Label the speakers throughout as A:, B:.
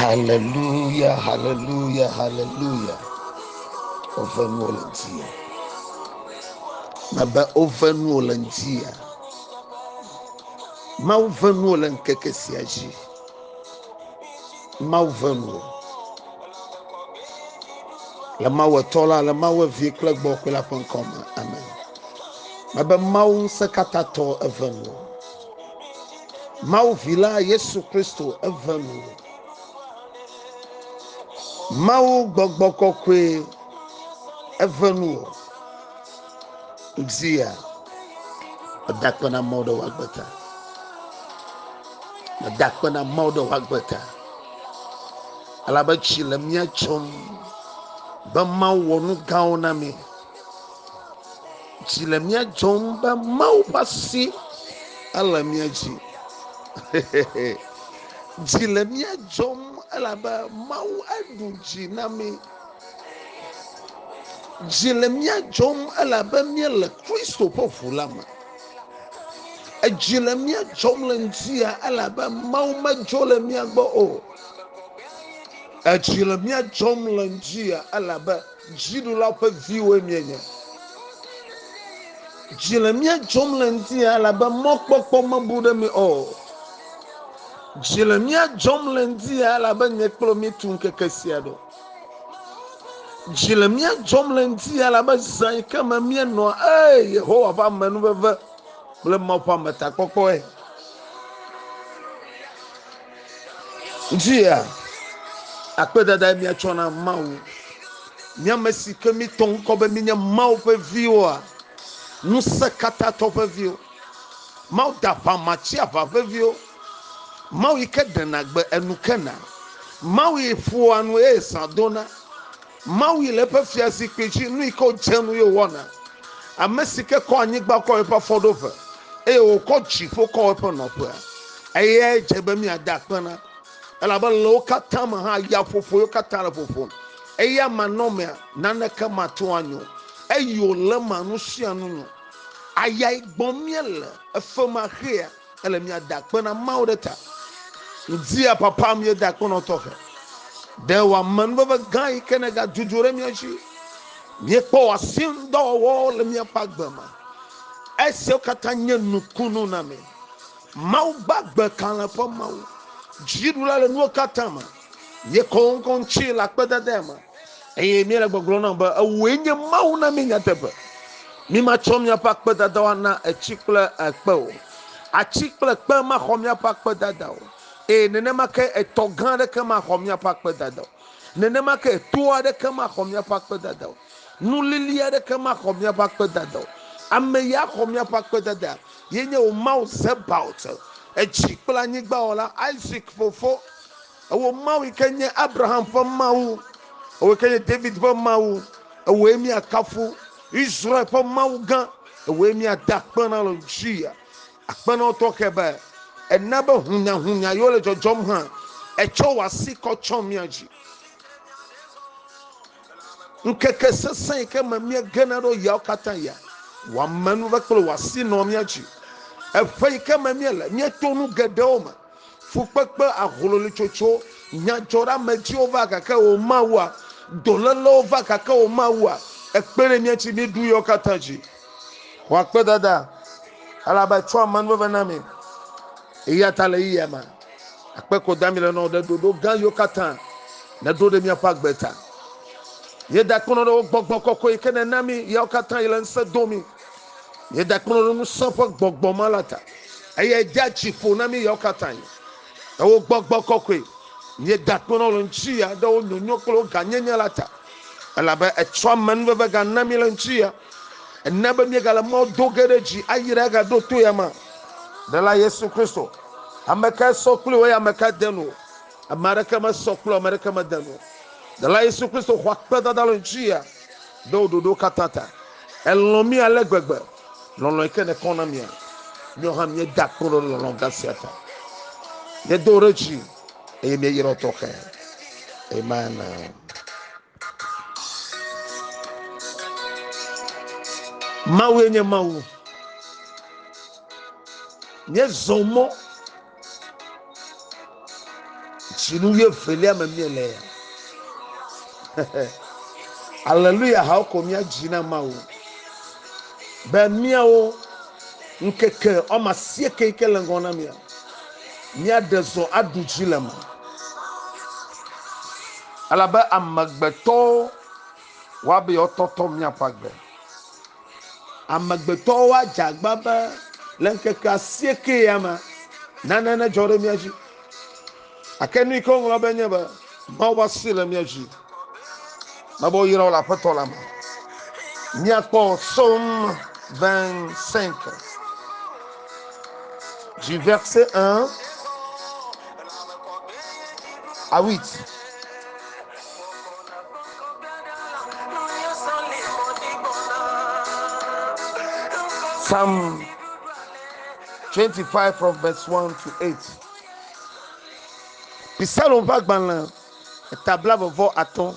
A: Haleluya, haleluya, haleluya. Woƒe nuwo le ŋutinye. Mebe woƒe nuwo le ŋutinye. Mawu ƒe nuwo le ŋkeke sia dzi. Mawu ƒe nuwo. Le Mawu etɔ la, le Mawu evi kple gbɔ kple la ƒe ŋkɔ me. Amen. Mebe Mawu ŋusẽkatãtɔ eƒe nuwo. Mawu vi la Yesu Kristo eve nu. Mawu gbɔgbɔ kɔkɔe eve nu o. Ŋdzia medakpena mɔ ɖe woagbeta. Medakpena mɔ ɖe woagbeta. Elabe tsi le mía tsom be Mawu wɔ nu gãwo na mi. Dzi le mía dzɔm be Mawu ƒe asi ele mía dzi. Dzi le mía dzɔm elabe Mawu eɖu dzi na mí. Dzi le mía dzɔm elabe míele Kristo ƒe ʋu la me. Edzi le mía dzɔm le ŋutia elabe Mawu medzo le mía gbɔ o. Edzi le mía dzɔm le ŋutia elabe. Dziɖula ƒe viwoe míenye. Dzi le mía dzɔm le ŋutinye elabe mɔkpɔkpɔ mebu ɖe mí o. Dzi le mía dzɔm le ŋutinye elabe nye kple mi tu ŋkeke sia ɖo. Dzi le mía dzɔm le ŋutinye elabe zã yi ke me míenɔa, ee, Yehowa ƒe amenuveve kple Mawu ƒe ametakpɔkpɔe. Dzia, akpedadae míatsɔ na Mawu. Mi ame si ke mitɔ ŋkɔ be minye Mawu ƒe viwoa, ŋusẽkatãtɔ ƒe viwo, Mawu da ʋãma tsiaʋã ƒe viwo, Mawu yi ke ɖena gbe enu kena, Mawu yi ƒoa nu eye zã dona, Mawu yi le eƒe fiazikpui dzi, nu yi ke wòdze nu ye wòwɔna. Ame si ke kɔ anyigba kɔ wɔ eƒe afɔɖoƒe, eye wòkɔ dziƒo kɔ wɔ eƒe nɔƒea, eyae dze be míade akpe na. Elabe le wo katã me hã, ya ƒoƒo yewo katã le ƒoƒom. Eya manɔmea, naneke mate ŋu anyo, eye wòle ema nu sia nu nyo. Ayae gbɔm míele, efemaxea. Ele miada akpe na Mawu ɖe ta. Ŋdia papa mieda akpe nɔ tɔxe. Ɖe wòame nuveve gã yi ke negadudzu ɖe mia dzi. Miekpɔ wòasi ŋudɔwɔwɔ le miaƒe agbe ma. Esiawo katã nye nukunu na mi. Mawu gbagbe kalẽ ƒe Mawu. Dziɖula le nuwo katã me. Ye kɔ ŋkɔ ŋuti le akpedadea me. Eye míele gbɔgblɔ na be ewòe nye Mawu na mí nyateƒe. Mímatsɔ míaƒe akpedadawo ana etsi kple ekpe o. Atsi kple kpe maxɔ míaƒe akpedada o. Eye nenema ke etɔ gã aɖeke maxɔ míaƒe akpedada o. Nenema ke to aɖeke maxɔ míaƒe akpedada o. Nu lili aɖeke maxɔ míaƒe akpedada o. Ame ya xɔ míaƒe akpedada. Ye nye wò Mawu Zebaot, edzi kple anyigbawɔla, Isak fofo. Ewò Mawu yi ke nye Abraham ƒe Mawu, ewòe ke nye David ƒe Mawu, ewòe míakafu, Israel ƒe Mawu gã, ewòe míada akpe na le ŋutia. Akpe na wò tɔxɛ be èna be hunyahunya yewo le dzɔdzɔm hã, ètsɔ wò asi kɔ tsɔ mía dzi. Ŋkeke sesẽ yi ke me míegena ɖo yawo katã ya, wò amenuveve kple wò asi nɔ mía dzi. Eƒe yi ke me míele, míeto nu geɖewo me. Fukpekpe, ahlolitsotso, nyadzɔɖeamedziwo va gake womawua? Dolélewo va gake womawua? Ekpe ɖe mía ŋuti míeɖu yawo katã dzi. Wɔ akpedada, elabe etsɔa amenuveve na mí. Eya ta le ɣeyiɣia me akpe ko dami le na wò ɖe ɖoɖo gã yiwo katã nèɖo ɖe míaƒe agbe ta. Míeda akpenyɔɖewo gbɔgbɔ kɔkɔe yi ke nèna mí yawo katã yi le ŋusẽ dom mí. Míeda akpe ɖe ŋusẽ ƒe gbɔgbɔ ma la ta. Eyae dea dzi ƒo na mí yawo katã. Le wò gbɔgbɔ kɔkɔe, míeda akpe na wò le ŋutiya ɖe wò nyonyo kple wò gãnyenye la ta. Elabe ètsɔ amenuveve gana mí le ŋutiya. Èna be míegale mɔ do ge ɖe dzi ayi ɖe agaɖo to ya ma. Ɖela Yesu Kristo, ame kae sɔ kpli wò eye ame kae de nu wò? Ame aɖeke mesɔ kpli wò, ame aɖeke mede nu wò. Ɖela Yesu Kristo xɔ akpedada le ŋutiya ɖe wò ɖoɖowo katã ta. Elɔ̃ mí ale gbegbe, lɔlɔ̃e ke nèkɔ na mía. Míawo hã míeda akpe ɖe lɔlɔ̃ gã sia ta. Míedo ɖe dzi eye míeyra wo tɔxɛ. Amen. Mawue nye Mawu. Míezɔ mɔ. Dzinu wuievelia me miele ya. Aleluya hawo ko mía dzi na Mawu be míawo ŋkeke wɔme asieke yi ke le ŋgɔ na mía míaɖe zɔ aɖu dzi le me. Elabe amegbetɔwo Woabe yewoatɔtɔ miaƒe agbe. Amegbetɔwo adze agba be le ŋkeke asieke ya me nane nedzɔ ɖe mía dzi. Ake nu yi ke woŋlɔ be nye be Mawu ƒe asi le mía dzi. Mebe woyra wo le Aƒetɔ la me. Míakpɔ Psaume 25 du verset 1 à 8. Psalm 25 from verse 1 to 8. Psalm ƒe agbalẽ eta bla vevɔ atɔ̃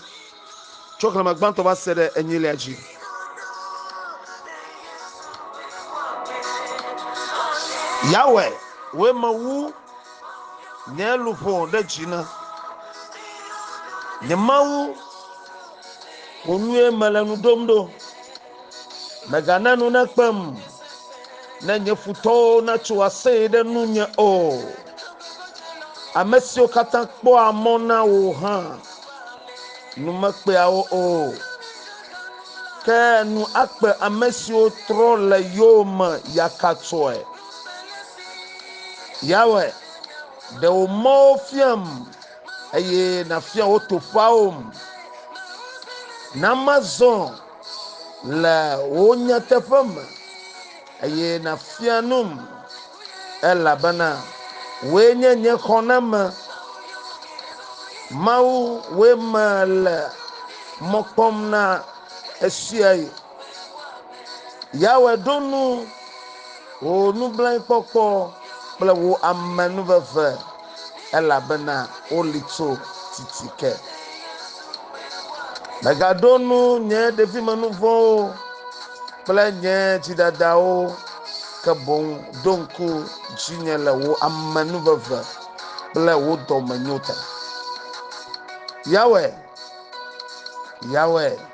A: tso xlẽme gbãtɔ va se ɖe enyilia dzi. Yahweh, wòe mewu Nye luʋɔ ɖe dzi na nye Mawu, wò nue mele nu ɖom ɖo. Mègana nu nakpem, ne nye futɔwo natso aseye ɖe nunye o. Ame siwo katã kpɔa mɔ na wò hã, nu mekpea wo o. Ke nu akpe ame siwo trɔ le yowòme yakatsoe. Yawe, ɖe wò mɔwo fiam, eye nàfia wò toƒeawom. Na mazɔ le wò nyateƒe me, eye nàfia num, elabena wòe nye nye xɔname. Mawu, wòe mele mɔ kpɔm na ɣesiaɣi. Yahweh ɖo nu wò nublanuikpɔkpɔ kple wò amenuveve, elabena woli tso titi ke. Mègaɖo nu nye ɖevimenu-vɔ̃wo kple nye dzidadawo, ke boŋ ɖo ŋku dzinye le wò amenuveve kple wò dɔmenyo ta. Yahweh, Yahweh.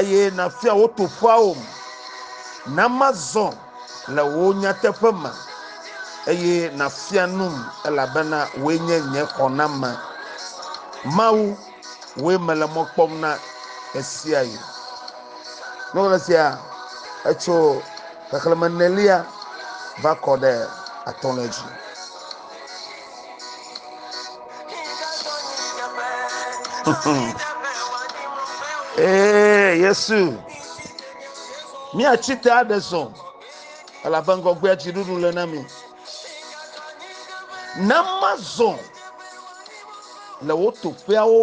A: eye nàfia wo toƒeawom. Na mazɔ le wò nyateƒe me, eye nàfia num, elabena wòe nye nye xɔname. Mawu, wòe mele mɔ kpɔm na ɣesiaɣi. Nuwɔla sia etso xexlẽme nelia va kɔ ɖe atɔ̃lia dzi. Ee, Yesu, míatsi te aɖe zɔ, elabe ŋgɔgbea dziɖuɖu le na mi. Ne mazɔ le wo toƒeawo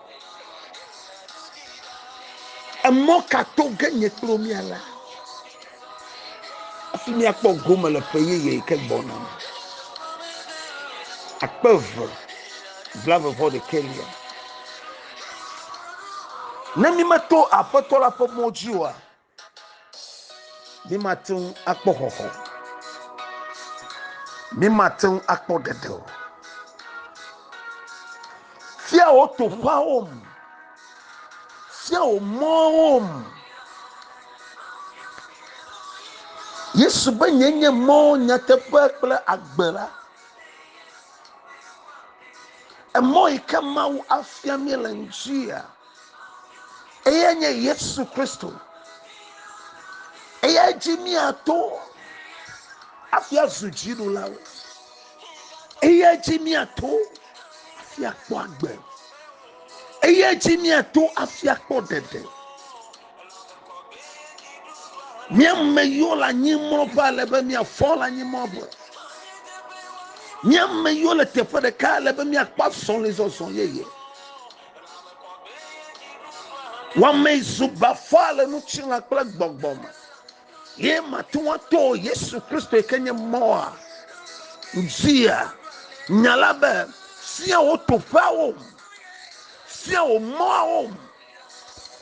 A: Emɔ ka to ge nye kple wo míala hafi míakpɔ gome le ƒe yeye yi ke gbɔna me? Akpe eve blaeve-vɔ ɖekɛlia. Ne mímeto Aƒetɔ la ƒe mɔ dzi oa, Mímate ŋu akpɔ xɔxɔ. Mímate ŋu akpɔ ɖeɖe o. Fia wò toƒeawo me. Fia wò mɔwo me. Yesu be nye nye mɔ nyateƒe kple agbe la. Emɔ yi ke Mawu afia mí le ŋuti ya. Eyae nye Yesu Kristo. Eyae dzi míato hafi azu dziɖulawo. Eyae dzi míato hafi akpɔ agbe. Eyae dzi míato hafi akpɔ ɖeɖe. Míame yiwo le anyi mlɔƒe ale be míafɔ le anyi mlɔƒe. Míame yiwo le teƒe ɖeka ale be míakpɔ azɔlizɔzɔ yeye. Wame zu bafa le ŋutilã kple gbɔgbɔ me. Ye mate ŋu ato Yesu Kristo yi ke nye mɔa. Dzia nya la be fia wò toƒeawo, fia wò mɔawo.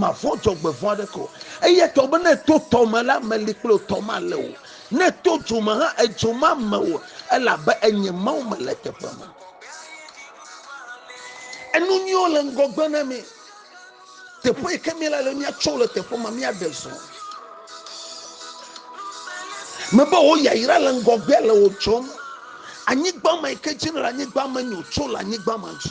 A: Mavɔ̃ dzɔgbevɔ̃ aɖeke o. Eya ta wòbe, Ne èto tɔ me la, meli kple wò, tɔ malé wò o. Ne èto dzo me hã, edzo mame wò o, elabe enye Mawu mele eteƒe me. Enu nyuiwo le ŋgɔgbe na mi. Teƒe yi ke míele la, míatsɔ wo le teƒe ma, míaɖe zɔ. Mebe wò yayra le ŋgɔgbea le wò dzɔm. Anyigba ma yi ke dzi nèle, anyigba ma nyo, tso le anyigba ma dzi.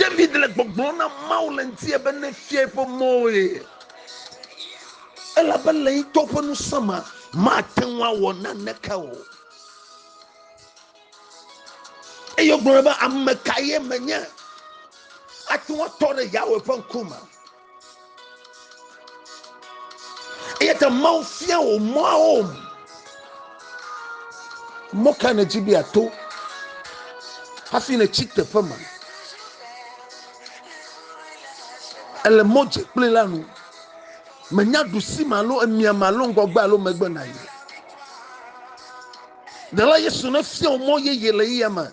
A: David le gbɔgblɔm na Mawu le ŋutie be nefia eƒe mɔwo ye. Elabe le ŋutɔ ƒe ŋusẽ me mate ŋu awɔ naneke o. Eye wogblɔ be ame ka ye menye ate ŋu atɔ ɖe Yahweh ƒe ŋkume. eya ta mawu fia wò mɔawo mɔ ka nèdzi be ato hafi nètsi teƒe ma ele mɔ dze kple la nu menya ɖusi ma alo emia ma alo ŋgɔgbe alo megbe na yi ɖela yesu ne fia wò mɔ yeye le yeyama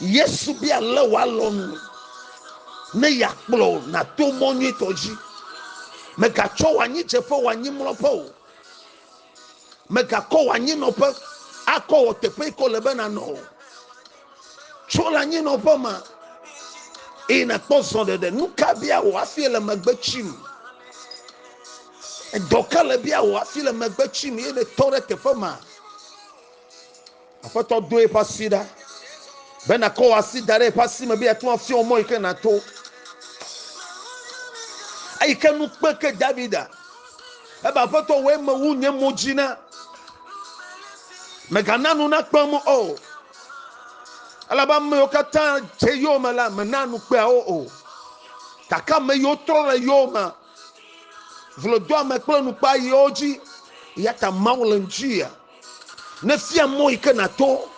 A: Yesu bia ale wòalɔ nu ne yeakplɔ wò nato mɔ nyuitɔ dzi. Mègatsɔ wò anyidzeƒe wɔ anyimlɔƒe o. Mègakɔ wò anyinɔƒe akɔ wɔ teƒe yi ke wòle be nànɔ o. Tso le anyinɔƒe me eye nàkpɔ zɔɖeɖe. Nu ka bia wò hafi le megbe tsim? Edɔ ka le bia wò hafi le megbe tsim eye nètɔ ɖe teƒe ma? Aƒetɔ do eƒe asi ɖa be nakɔ wò asi da ɖe eƒe asi me be yeate ŋu afia wò mɔ yi ke nàto. Eyi ke nu kpe ke Davida ebe Aƒetɔ wɔe mewu nye mo dzi na. Mègana nu nakpe mo o. Elabe ame yiwo katã dze yowòme la, mènaa nu kpea wo o. Gake ame yiwo trɔ le yowòmea, vlodoame kple nukpea yia wo dzi. Eya ta Mawu le ŋuti yia. Nefia mɔ yi ke nàto.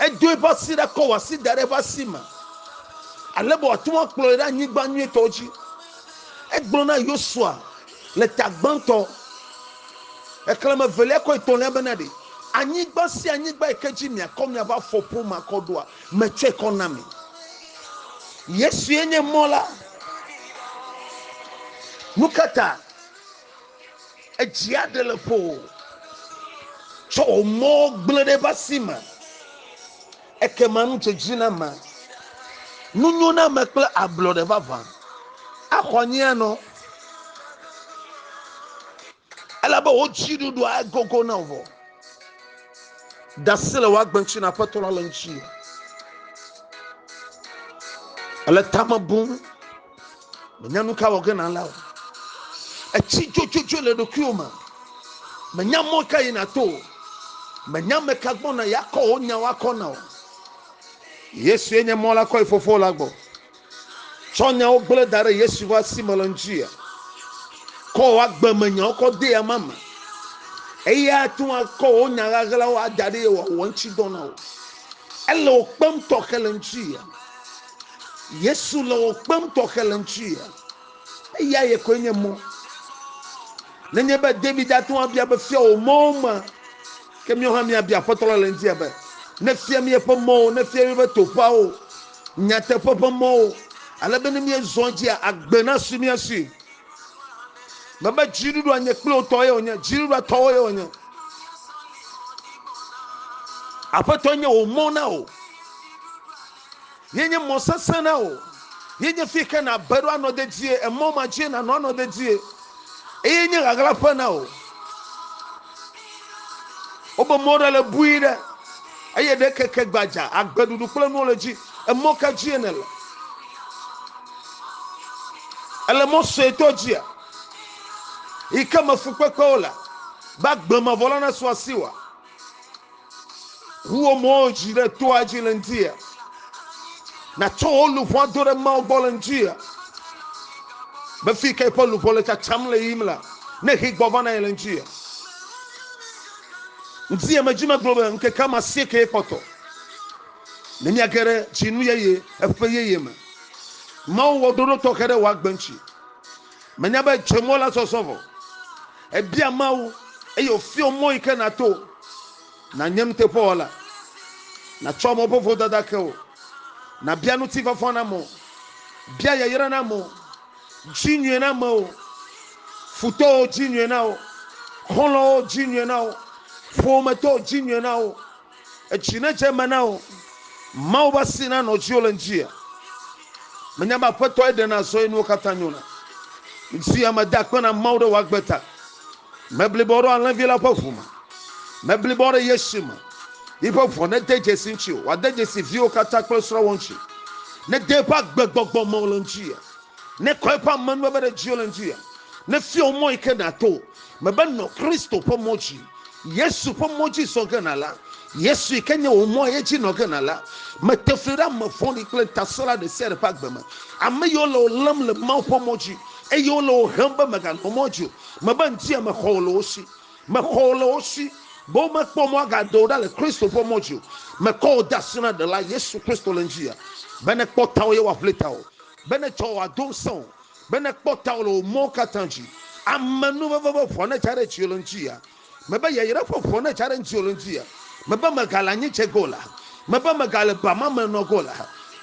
A: Edo eƒe asi ɖa kɔ wò asi da ɖe eƒe asi me ale be wòate ŋu akplɔ wò ɖe anyigba nyuitɔ dzi. Egblɔ na Yosua le ta gbãtɔ, xexlẽme evelia kɔ etɔ̃lia bena ɖe anyigba sia anyigba yi ke dzi miakɔ miaƒe afɔ ƒom akɔ ɖoa, metsɔe kɔ na mi. Yesue nye mɔ la. Nu ka ta? Edzia ɖe le ƒo o. Tsɔ wò mɔ gblẽ ɖe eƒe asi me. Ekema nu dze dzi na ame. Nu nyo na ame kple ablɔɖe vavã. Axɔ anyi anɔ. Elabe wò dziɖuɖua agogo na wò. Dasi le wò agbe ŋuti na Aƒetɔ la le ŋuti. Ele tame bum. menya nu ka wɔ ge nàla o etsi dzodzodzoe le ɖokuiwo me menya mɔ ka yi nàto o menya ame ka gbɔ na yeakɔ wò nyawo akɔ na o yesue nye mɔ la kɔ yi fofo la gbɔ tsɔ nyawo gblẽ da ɖe yesu ƒe asi me le ŋuti kɔ wò agbe me nyawo kɔ de ya ma me eya ate ŋu akɔ wò nya ɣaɣlawo ada ɖe wòawɔ ŋuti dɔ na wò ele wò kpem tɔxɛ le ŋuti ya Yesu le wò kpem tɔxɛ le ŋutsu ya. Eya ye koe nye mɔ. Nenye be David ate ŋu abia be fia wò mɔwo ma, ke míawo hã míabia Aƒetɔ la le ŋuti be nefia mí eƒe mɔwo, nefia mí eƒe toƒeawo, nyateƒe ƒe mɔwo, ale be ne míezɔ edzia, agbe nasu mía si. Mebe dziɖuɖua nye kple wò tɔ ye wònye, dziɖuɖua tɔwo ye wònye. Aƒetɔ nye wò mɔ na wò. Yenye mɔ sesẽ na wò. Yenye fi yi ke nàbe ɖo anɔ dedie. Emɔ ma dzie nànɔ anɔ dedie. Eye nye ɣaɣlaƒe na wò. Wobe mɔ ɖe le bui ɖe. Eye ɖe keke gbadza, agbe ɖuɖu kple nuwo le dzi. Emɔ ka dzie nèle? Èle mɔ suetɔ dzia? Yi ke me fukpekpewo le. Be agbe mavɔ la nasu asiwòa? Ŋu wò mo dzi ɖe toa dzi le ŋutia. Nàtsɔ wò luʋɔa do ɖe Mawu gbɔ le ŋutia. Be fi ka eƒe luʋɔ le tsatsam le yiyim la, ne hee gbɔ va na ye le ŋutia. Ŋutia me dzi megblɔ be ŋkeke ame asiekee kpɔtɔ. Ne miage ɖe dzinu yeye, eƒe yeye me. Mawu wɔ ɖoɖo tɔxɛ ɖe wò agbe ŋuti. Menya be dze mɔ la sɔsɔ vɔ. Ebia Mawu eye wòfiɔ mɔ yi ke nàto nànye nuteƒewɔla, nàtsɔ mɔƒoƒo dada ke wò, nàbia ŋutifafa na amewo, bia yayra na amewo, dzi nyuie na amewo, futɔwo dzi nyuie na wo, xɔlɔ̃wo dzi nyuie na wo, ƒometɔwo dzi nyuie na wo. Edzi nedze eme na wò. Mawu ƒe asi nanɔ dziwò le ŋdzia. Menya be Aƒetɔe ɖena azɔ eye nuwo katã nyona. Ŋdzia meda akpe na Mawu ɖe wò agbe ta. Meblibɔ ɖo alẽvi la ƒe ʋu me. Meblibɔ ɖe ye si me. Yiƒe ʋua nede dzesi ŋutsiwò. Wòade dzesi viwò katã kple srɔ̃wò ŋutsi. Nede eƒe agbegbɔgbɔ me wò le ŋdzia. Nekɔ eƒe amenuveve ɖe dziwò le ŋdzia. Nefia wò mɔ yike nàto. Mebe nɔ Kristo ƒe mɔ dzi. Yesu ƒe mɔ dzi zɔ ge na la, Yesu yi ke nye wò mɔ ye dzi nɔ ge na la, mete fli ɖe ame vɔ̃ɖi kple ŋutasẽla ɖe sia ɖe ƒe agbe me, ame yiwo le wò lém le Mawu ƒe mɔ dzi eye wole wò hem be mèganɔ mɔ dzi o. Mebe ŋdia mexɔ wò le wo si. Mexɔ wò le wo si be womekpɔ mɔ agade wò ɖa le Kristo ƒe mɔ dzi o. Mekɔ wò de asi na Ɖela, Yesu Kristo le ŋdziya, be nekpɔ tawò ye wòaʋli tawò, be netsɔ wò ado ŋusẽwò, Be nèkpɔ tawò le wò mɔwo katã dzi. Ame nuveve ƒe ʋua netsa ɖe tsiolo ŋutia? Mebe yayra ƒe ʋua netsa ɖe ŋutiolo ŋutia? Mebe megale anyi dze ge o la? Mebe megale ba ma me nɔ ge o la?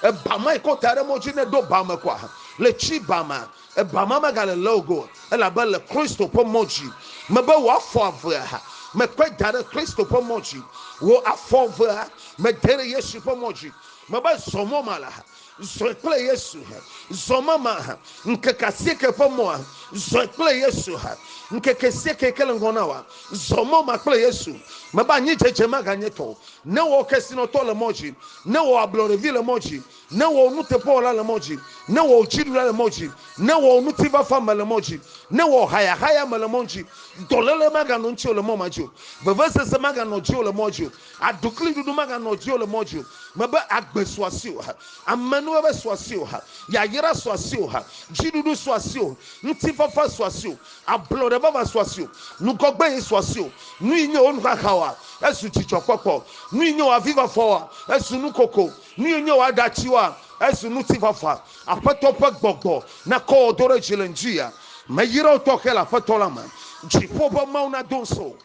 A: Eba ma yi ke wota ɖe mɔ dzi ne ɖo ba me kɔa? Le tsi ba ma, eba ma megale le wò ge o, elabe èle Kristo ƒe mɔ dzi. Mebe wò afɔ evea, mekɔe da ɖe Kristo ƒe mɔ dzi. Wò afɔ evea, mede ɖe Yesu ƒe mɔ dzi. Mebe zɔ mɔ ma la, Zɔe kple Yesu, zɔ mama, ŋkeke asieke ƒe mɔ, zɔe kple Yesu, ŋkeke asieke yi ke le ŋgɔ na wòa, zɔ mɔ ma kple Yesu. Mebe anyidzedze maganye tɔwò, ne wɔ kesinɔtɔ le mɔ dzi, ne wɔ ablɔɖevi le mɔ dzi, ne wɔ nuteƒewɔla le mɔ dzi, ne wɔ dziɖula le mɔ dzi, ne wɔ ŋutifafa me le mɔ dzi, ne wɔ hayahaya me le mɔ dzi. Dɔléle maganɔ ŋutiwò le mɔ ma dzi o, vevesese maganɔ dziwò le mɔa dzi o. Aɖukliɖuɖu maganɔ dziwò le mɔ dzi o. Mebe agbe su asiwò, amenuveve su asiwò, yayra su asiwò, dziɖuɖu su asiwò, ŋutifafa su asiwò, ablɔɖe vava su asiwò, nugɔgbeye su asiwò. Nuyi nye wò nuxaxaoa, ezu dzidzɔkpɔkpɔ. Nuyi nye wò avifafaoa, ezu nukoko. Nuyi nye wò aɖatsiwoa, ezu ŋutifafa. Aƒetɔ ƒe gbɔgbɔ nakɔ wò do ɖe dzi le ŋdziya. Meyra wò tɔxɛ le Aƒetɔ la me. Dziƒo ƒe Mawu nado ŋusẽ wò.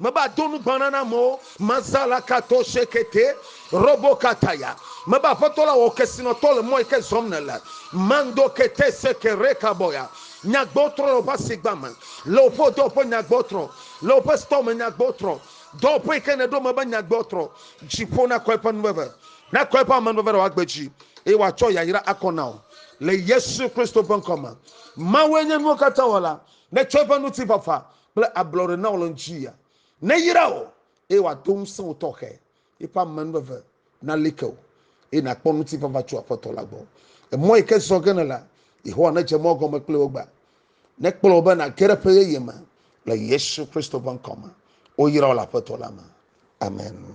A: Mebe ado nugbana na amewo. Mazala kato shekete robo kataya. Mebe Aƒetɔ la wɔ kesinɔtɔ le mɔ yi ke zɔm nèle. Mando kete seke rekabɔya. Nyagbɔtrɔ le woƒe asigba me. Le woƒe dɔwɔƒe nyagbɔtrɔ. Le woƒe stɔ me nyagbɔtrɔ. Dɔwɔƒe yi ke nèɖo mebe nyagbɔtrɔ. Dziƒo nakɔ eƒe nuveve. Nakɔ eƒe amenuveve ɖe wòagbe dzi. Eye wòatsɔ yayra akɔ na wò. Le Yesu Kristo ƒe ŋkɔ me. Mawue nye nuwo katã wɔla. Netsɔ eƒe ŋutifafa kple ablɔɖe na wò le ŋutia neyra wò, eye wòado ŋusẽ wò tɔxɛ, eƒe amenuveve nali ke wò, eye nàkpɔ ŋutifafa tso Aƒetɔ la gbɔ. Emɔ yi ke zɔ ge nèle, Yehowa nedze mɔ gɔme kpli wò egbea, nekplɔ wò be nàge ɖe ƒe yeye me le Yesu Kristo ƒe ŋkɔ me. Woyra wò le Aƒetɔ la me. Amen.